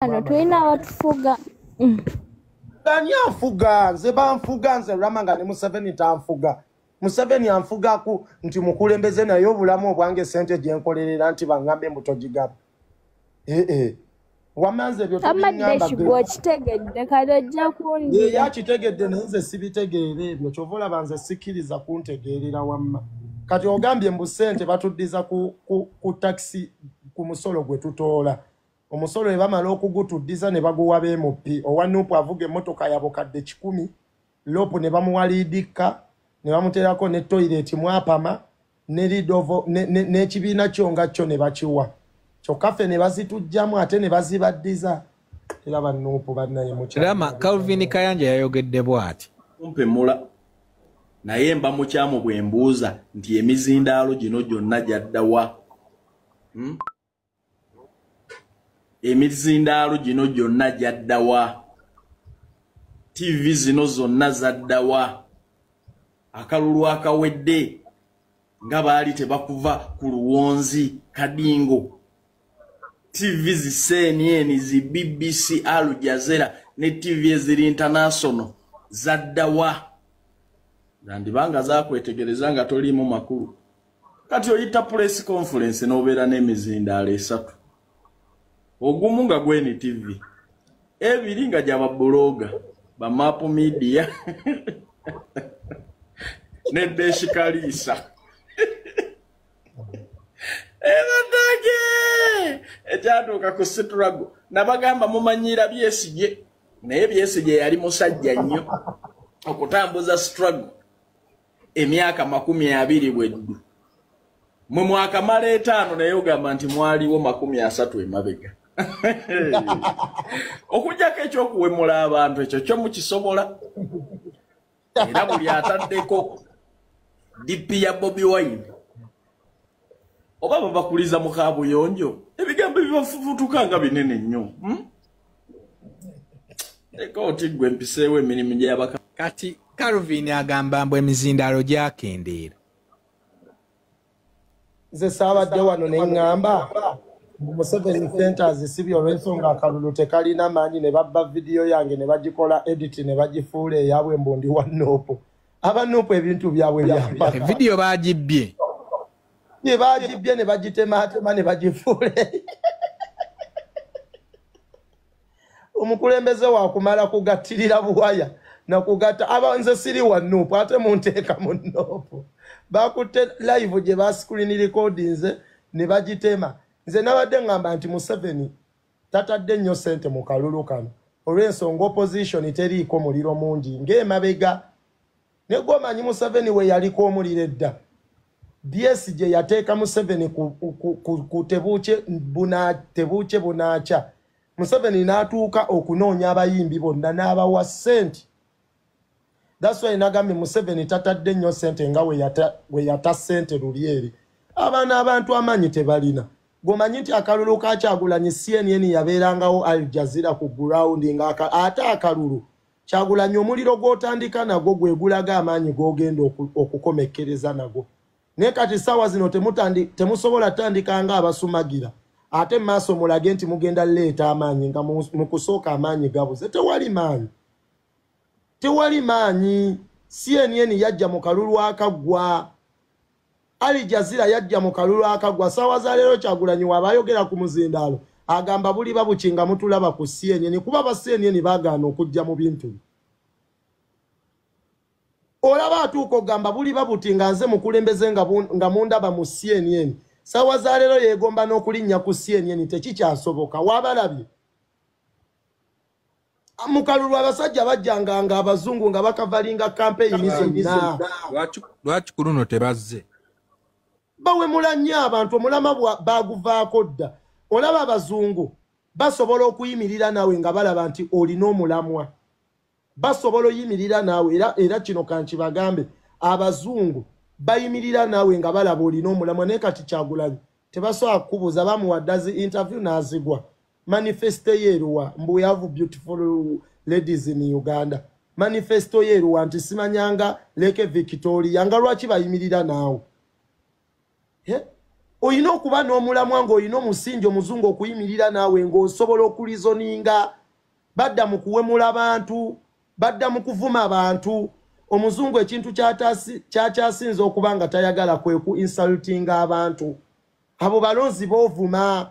wano tulina abatufuga ani anfuga nze banfuga nze rama nga ne museveni tanfuga museveni anfugaku nti mukulembeze naye obulamu obwange sente gyenkolerera nti baŋambe mbutogigaba ee eh, eh. wamanze byoyakitegedde naye nze sibitegeera ebyo kyova olaba nze sikkiriza kuntegeerera wamma kati ogambye mbu sente batuddiza ku takisi ku musolo gwe tutoola Omusolo webamala okugutuddiza ne baguwa b'MP. Owa Nup avuga emmotoka ya bukadde kikumi, loopu ne bamuwa liidikka ne bamuteerako ne toyireeti mw'apama ne lidovo n'ekibiina kyo nga kyo ne bakiwa kyokka ffe ne bazituggyamu ate ne bazibaddiza era ba Nup bannaye mukirama. Calvin Kayanja yayogedde bw'ati. Kumpe mula naye mba mukyamu bwe mbuuza nti emizindaalo gino gyonna gyadda wa? Hmm? emizindaalo gino gyonna gyaddawa tivi zino zonna zaddawa akalulu akawedde nga baali tebakuva ku luwonzi kadingo tivi zi cnn zi bbc alujazera ne tivi eziri intanasono zaddawa zandibanga zakwetegereza nga toliimu makulu kati oyita press conference n'obeera n'emizindaalo esatu ogumu nga gwen tv ebiri nga gyaba buloga bamap media nedeshikaliisa ebatage ekyatuuka ku siturago nabagamba mumanyiira byesigye naye byesigye yali musajja nnyo okutambuza siturago emyaka makumi abiri bweddu mwe mwakamala etaano naye ogamba nti mwaliwo makumi asatu emabega okujjako ekyokuwemula abantu ekyo kyo mukisobola era buli ataddeko dipi ya bobi wine oba babakuliza mu kabuyonjo ebigambo bibafufutuka nga binene nnyo hmm? leka oti gwe mpiseewo emirimu gyabaka kati calvin agamba mbu emizindaalo gyakendeera nze saabadde wano ne ŋŋamba museveni centers si byolwensonga akalulu tekalina maanyi ne babba vidiyo yange ne bagikola editi ne bagifuula eyabwe mbu ndi wa noopu aba nup ebintu byabwe byamba evidiyo bagibbye ye bagibbye ne bagitematema ne bagifuule omukulembeze wakumala kugattirira buwaya nakugatta aba nze siri wa nup ate munteeka mu nup bakutte live gye bascreen recordinze ne bagitema nze nabadde ngamba nti museveni tatadde nnyo ssente mu kalulu kano olw'ensonga opposition teriiko muliro mungi ng'emabega ne gwomanyi museveni we yaliko omuliro edda byesi gye yateeka museveni ku tebuukye bunaakya museveni n'atuuka okunoonya abayimbi bonna n'abawa ssente daswayi nagambye museveni tatadde nnyo sente nga weyata sente luli eri abaana abantu amaanyi tebalina gomanyi nti akalulu kakyagulanyi cnn yabeerangawo al jazira ku gurawundi nga ate akalulu kyagulanyi omuliro gwotandika nagwo gwegulaga amaanyi gogenda okukomekkereza nagwo naye kati saawa zino temusobola tandika nga abasumagira ate mu maaso mulage nti mugenda leeta amaanyi nga mu kusooka amaanyi gabuze tewali maanyi tewali maanyi cnn yajja mu kalulu akaggwa ali jazira yajja mu kalulu akaggwa saawa za leero kyagulanyi waaba ayogera ku muzindaalo agamba buli babuki nga mutulaba ku cnn kuba ba cnn bagaana okujja mu bintu olaba atuuka ogamba buli babuti nga nze mukulembeze nga mundaba mu cnn saawa za leero yeegomba n'okulinnya ku cnn tekikyasoboka waabalabye mukalulu abasajja bajjanga nga abazungu nga bakavalinga kampeyini zonna lwaki ku luno tebazze bawemula nnyo abantu omulama baguvaako dda olaba abazungu basobola okuyimirira naawe nga balaba nti olina omulamwa basobola oyimirira naawe era, era kino kankibagambe abazungu bayimirira naawe nga balaba olina omulamwa naye kati kyagulanyi tebasobola kukubuuza bamuwaddazi interview n'azigwa manifesto yeeruwa mbu yavu beautiful ladies in uganda manifesto yeeruwa nti simanyanga leke victoria nga lwaki bayimirira naawe olina okuba n'omulamwa ng'olina omusingi omuzungu okuyimirira naawe ng'osobola okulizoninga badda mu kuwemula bantu badda mu kuvuma bantu omuzungu ekintu kyakyasinza okuba nga tayagala kwe ku insultinga abantu abo balonzi boovuma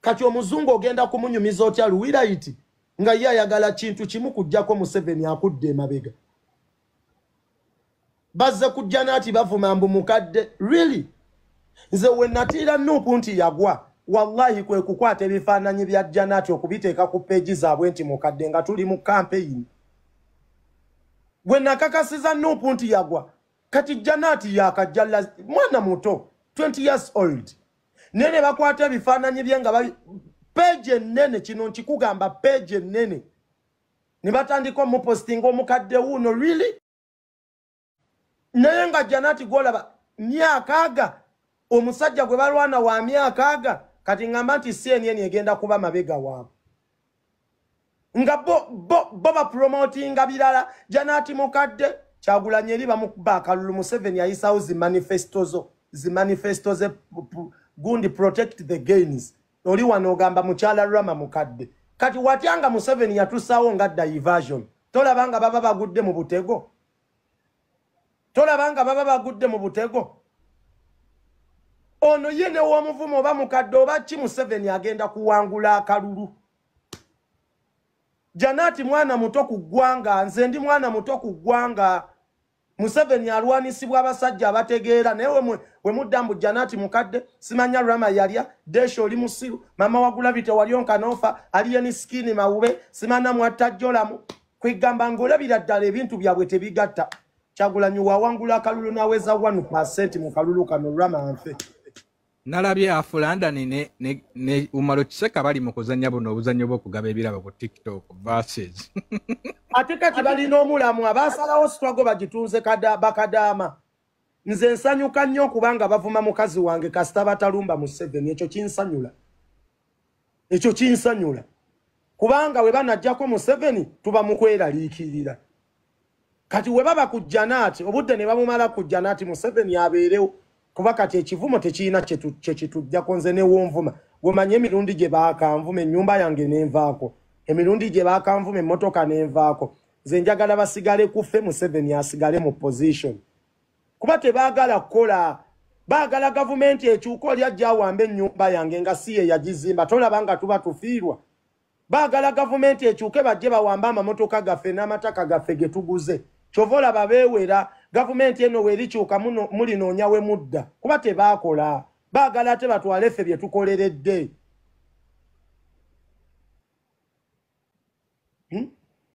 kati omuzungu ogenda kumunyumiza otya luwirayiti nga ye ayagala kintu kimu kujjako museveni akudde emabega bazze kujja naati bavuma mbu mukadde really nze wenatiira nuupu nti yagwa wallahi kwe kukwata ebifaananyi bya janaati okubiteeka ku peegi zaabwe nti mukadde nga tuli mu kampeyini gwe nakakasiza nuupu nti yagwa kati janaati yakajja mwana muto 20 years old naye ne bakwata ebifaananyi bye nga peegi ennene kino nkikugamba peegi ennene ne batandika omupositinga omukadde wuuno really naye nga janati gwolaba myaka aga omusajja gwe balwana wa myaka aga kati ngamba nti cnn egenda kuba mabega waabwe nga bo bo bo ba promotinga birala janati mukadde kyagulanye eri bamukuba akalulu museveni yayisawo zi manifesto zo zi manifesto ze gundi protect the gains oli wano ogamba mukyala rama mukadde kati watyanga museveni yatusawo nga diversion tolabanga baba bagudde mu butego tolaba nga baba bagudde mu butego ono ye newomuvumu oba mukadde oba ki museveni agenda kuwangula akalulu janati mwana muto ku ggwanga nze ndi mwana muto ku ggwanga museveni alwanisibwa abasajja abategeera naye we mudda mbu janati mukadde simanya rama yalya desha oli musiru mama wagulabite walyonkanofa aliyeni sikini mawube simana mwattajjolamu kwegamba ngolabira ddala ebintu byabwe tebigatta kyagulanyi wawangula akalulu naweza one percent mu kalulu kano lwamanfe nalabye afulandani ne, ne, ne umaro kiseka bali mu kuzanya buno obuzanyo bwokugaba ebirabo ku tiktok verses ate kati balina omulamu abasalawo sitwago bagitunze bakadaama nze nsanyuka nnyo okubanga bavuma mukazi wange kasita batalumba museveni ekyo kinsanyula ekyo kinsanyula kubanga we banajjako museveni tuba mu kweraliikirira kati we baba ku janaati obudde ne bamumala ku janaati museveni abeerewo kuba kati ekivumo tekirina kyekitujjako nze newonvuma gwemanya emirundi gye baakanvuma ennyumba yange nenvaako emirundi gye baakanvuma emmotoka nenvaako nze njagala basigale kufe museveni asigale mu position kuba tebaagala kukola baagala gavumenti ekyuka oli ajja awamba ennyumba yange nga si ye yagizimba tolaba nga tuba tufiirwa baagala gavumenti ekyuke bajje bawambe amamotoka gaffe n'amataka gaffe ge tuguze kyova olaba beewera gavumenti eno weerikyuka mulinoonya we mudda kuba tebaakola baagala ate batwale ffe bye tukoleredde hmm?